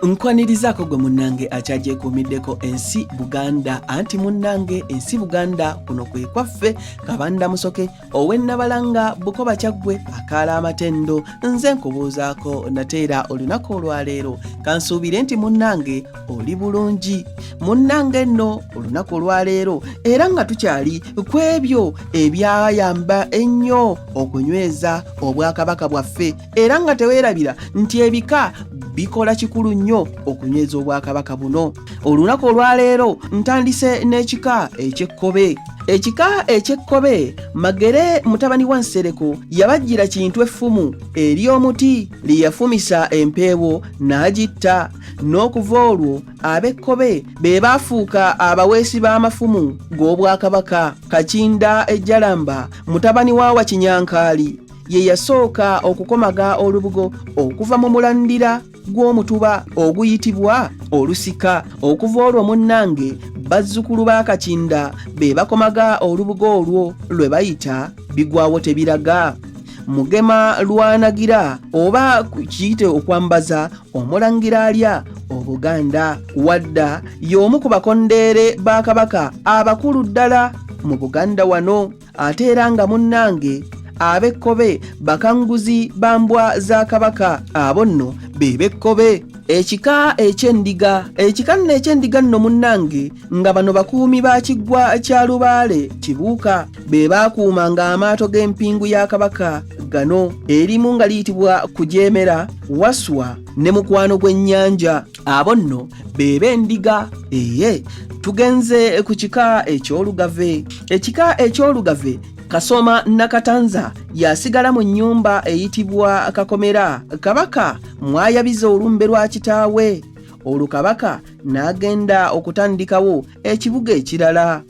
Nkwanirizaako gwe munnange akyagyekuumiddeko ensi Buganda anti munnange ensi Buganda kuno kwe kwaffe kabanda musoke owennabalanga bukoba kyaggwe akaala amatendo nze nkubuuzaako nate era olunaku olwaleero kansuubire nti munnange oli bulungi munnange nno olunaku olwaleero era nga tukyali ku ebyo ebyayamba ennyo okunyweza obwakabaka bwaffe era nga teweerabira nti ebika bikola kikulu nnyo okunyweza obwakabaka buno olunaku olwaleero ntandise n'ekika ekyekkobe ekika ekyekkobe magere mutabani wa nsereko yabajjira kintu effumu eri omuti lye yafumisa empeewo n'agitta n'okuva olwo ab'ekkobe be baafuuka abaweesi b'amafumu g'obwakabaka kakinda ejjalamba mutabani wa wakinyankaali ye yasooka okukomaga olubugo okuva mu mulandira gw'omutuba oguyitibwa olusika okuva olwo munnange bazzukulu ba kakinda be bakomaga olubugo olwo lwe bayita bigwawo tebiraga mugema lwanagira oba kiyite okwambaza omulangira alya obuganda wadda y'omu ku bakondeere ba kabaka abakulu ddala mu buganda wano ate era nga munnange ab'ekkobe bakanguzi ba mbwa za kabaka abo nno be b'ekkobe ekika eky'endiga ekika nno eky'endiga nno munnange nga bano bakuumi ba kiggwa kya lubaale kibuuka be baakuuma ng'amaato g'empingu ya kabaka gano erimu nga liyitibwa kujeemera waswa ne mukwano gw'ennyanja abo nno be b'endiga eye tugenze ku kika eky'olugave ekika eky'olugave kasoma nakatanza yasigala mu nnyumba eyitibwa kakomera kabaka mwayabiza olumbe lwa kitaawe olwo kabaka n'agenda okutandikawo ekibuga ekirala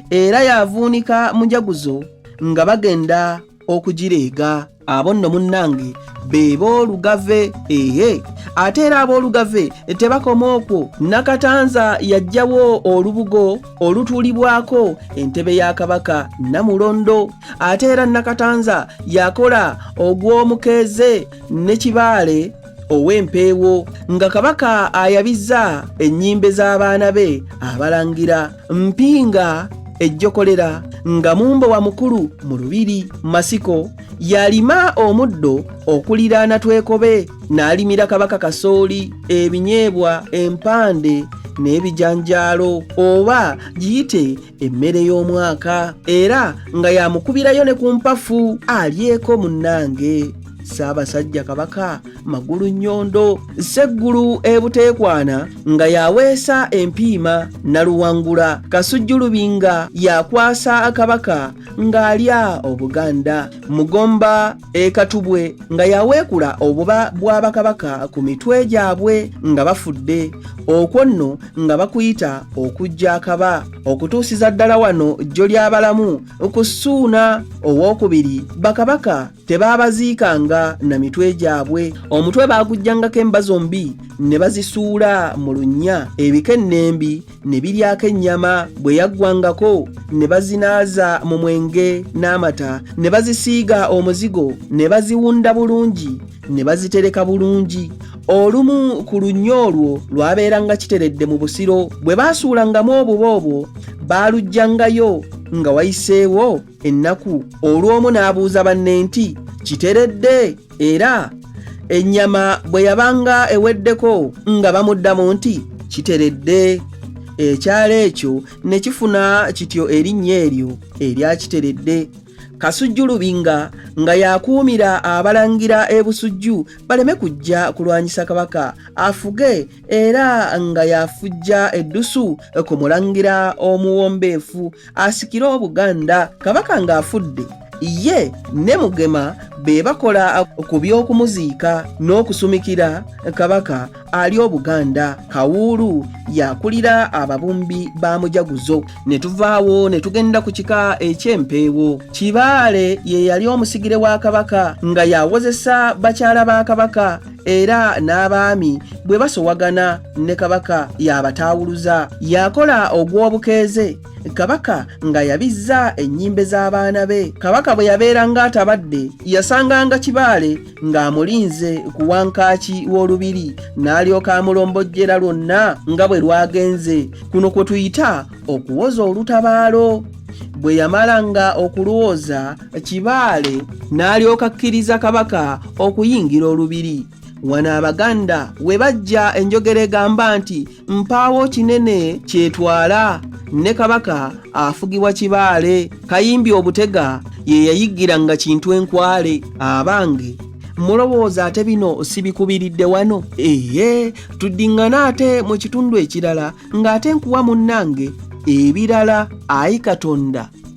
era yavuunika mujaguzo nga bagenda okugireega abo nno munnange be boolugave eye ate era aboolugave tebakoma okwo nakatanza yajjawo olubugo olutuulibwako entebe ya kabaka namulondo ate era nakatanza yakola ogw'omukeeze ne kibaale ow'empeewo nga kabaka ayabizza ennyimbe z'abaana be abalangira mpinga ejjokolera nga mumbo wa mukulu mu lubiri masiko yalima omuddo okuliraana twekobe n'alimira kabaka kasooli ebinyeebwa empande n'ebijanjaalo oba giyite emmere y'omwaka era nga yamukubirayo ne ku mpafu alyeko munnange ssaabasajja kabaka magulu nnyondo sseggulu ebuteekwana nga yaweesa empiima naluwangula kasujjulubi nga yakwasa kabaka ng'alya obuganda mugomba e Katubwe nga yaweekula obuba bwa bakabaka ku mitwe gyabwe nga bafudde okwo nno nga bakuyita okujja akaba okutuusiza ddala wano jjo ly'abalamu ku ssuuna ow'okubiri bakabaka tebaabaziikanga na mitwe gyabwe omutwe baagujjangako emba zombi ne bazisuula mu lunnya ebikennembi ne biryako ennyama bwe yaggwangako ne bazinaaza mu mwenge n'amata ne bazisiiga omuzigo ne baziwunda bulungi ne bazitereka bulungi olumu ku lunnya olwo lwabeeranga kiteredde mu busiro bwe baasuulangamu obuba obwo baalugyangayo nga wayiseewo ennaku olw'omu n'abuuza banne nti kiteredde era ennyama bwe yabanga eweddeko nga bamuddamu nti kiteredde ekyalo ekyo ne kifuna kityo erinnya eryo erya kiteredde kasujju lubinga nga yakuumira abalangira ebusujju baleme kujja kulwanyisa kabaka afuge era nga yafujja eddusu ku mulangira omuwombeefu asikire obuganda kabaka ng'afudde ye ne mugema be bakola ku by'okumuziika n'okusumikira kabaka ali obuganda kawuulu yakulira ababumbi ba mujaguzo ne tuvaawo ne tugenda ku kika eky'empeewo kibaale ye yali omusigire wa kabaka nga yawozesa bakyala ba kabaka era n'abaami bwe basowagana ne kabaka y'abataawuluza yakola ogw'obukeeze kabaka nga yabizza ennyimbe z'abaana be kabaka bwe yabeera ng'atabadde yasanganga kibaale ng'amulinze ku wankaaki w'olubiri n'alyoka amulombojjera lwonna nga bwe lwagenze kuno kwe tuyita okuwoza olutabaalo bwe yamalanga okulwooza kibaale n'alyoka akkiriza kabaka okuyingira olubiri wano abaganda we bajja enjogera egamba nti mpaawo kinene kyetwala ne kabaka afugibwa kibaale kayimbi obutega ye yayiggira nga kintu enkwale abange mulowooza ate bino sibikubiridde wano eye tuddiŋŋana ate mu kitundu ekirala ng'ate nkuwa munnange ebirala ayi katonda